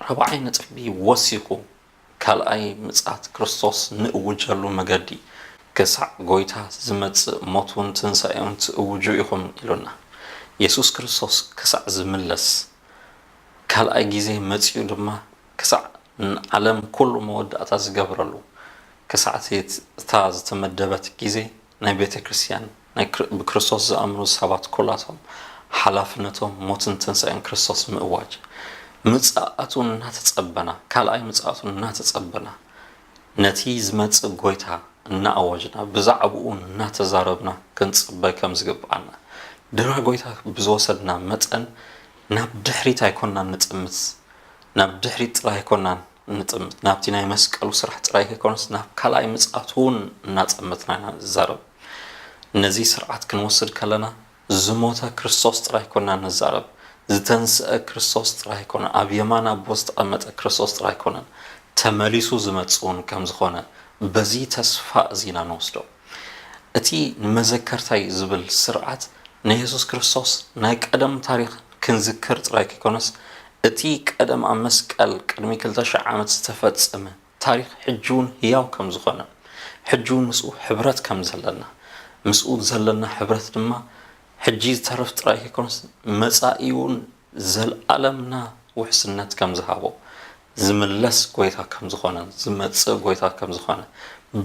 ራብዓይ ነጥቢ ወሲኹ ካልኣይ ምጽኣት ክርስቶስ ንእውጀሉ መገዲ ክሳዕ ጎይታ ዝመጽእ ሞቱን ትንሣኤኡን ትእውጁ ኢኹም ኢሉና። የሱስ ክርስቶስ ክሳዕ ዝምለስ ካልኣይ ጊዜ መጺኡ ድማ ክሳዕ ንዓለም ኩሉ መወዳእታ ዝገብረሉ ክሳዕ'ቲ እታ ዝተመደበት ጊዜ ናይ ቤተ ክርስቲያን ናይ ብክርስቶስ ዝኣምኑ ሰባት ኩላቶም ሓላፍነቶም ሞትን ትንሣኤን ክርስቶስ ምእዋጅ ምጽኣቱ እናተጸበና ካልኣይ ምጽኣቱ እናተጸበና ነቲ ዝመጽእ ጐይታ እናኣወጅና ብዛዕባኡ እናተዛረብና ክንጽበ ከም ዝግብኣና፣ ድራ ጐይታ ብዝወሰድና መጠን ናብ ድሕሪት ኣይኮናን ንጥምት፣ ናብ ድሕሪት ጥራይ ኣይኮናን እንጥምት፣ ናብቲ ናይ መስቀሉ ስራሕ ጥራይ ከይኮነስ ናብ ካልኣይ ምጽኣቱ'ውን እናጠመትና ኢና ንዛረብ። ነዚ ስርዓት ክንወስድ ከለና ዝሞተ ክርስቶስ ጥራይ ኮና እንዛረብ፣ ዝተንስኣ ክርስቶስ ጥራይ ኣይኮነን፣ ኣብ የማን ኣቦ ዝተቐመጠ ክርስቶስ ጥራይ ኣይኮነን፣ ተመሊሱ ዝመጽእ ውን ከም ዝኾነ በዚ ተስፋ እዚ ኢና ንወስዶ። እቲ ንመዘከርታይ ዝብል ስርዓት ናይ የሱስ ክርስቶስ ናይ ቀደም ታሪኽ ክንዝክር ጥራይ ከይኮነስ እቲ ቀደም ኣብ መስቀል ቅድሚ ክልተ ሽሕ ዓመት ዝተፈጸመ ታሪኽ ሕጂውን ህያው ከም ዝኾነ፣ ሕጂውን ምስኡ ሕብረት ከም ዘለና፣ ምስኡ ዘለና ሕብረት ድማ ሕጂ ዝተርፍ ጥራይ ከይኮነስ መጻኢውን ዘልኣለምና ውሕስነት ከም ዝሃቦ፣ ዝምለስ ጎይታ ከም ዝኾነን ዝመጽእ ጎይታ ከም ዝኾነ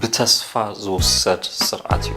ብተስፋ ዝውሰድ ስርዓት እዩ።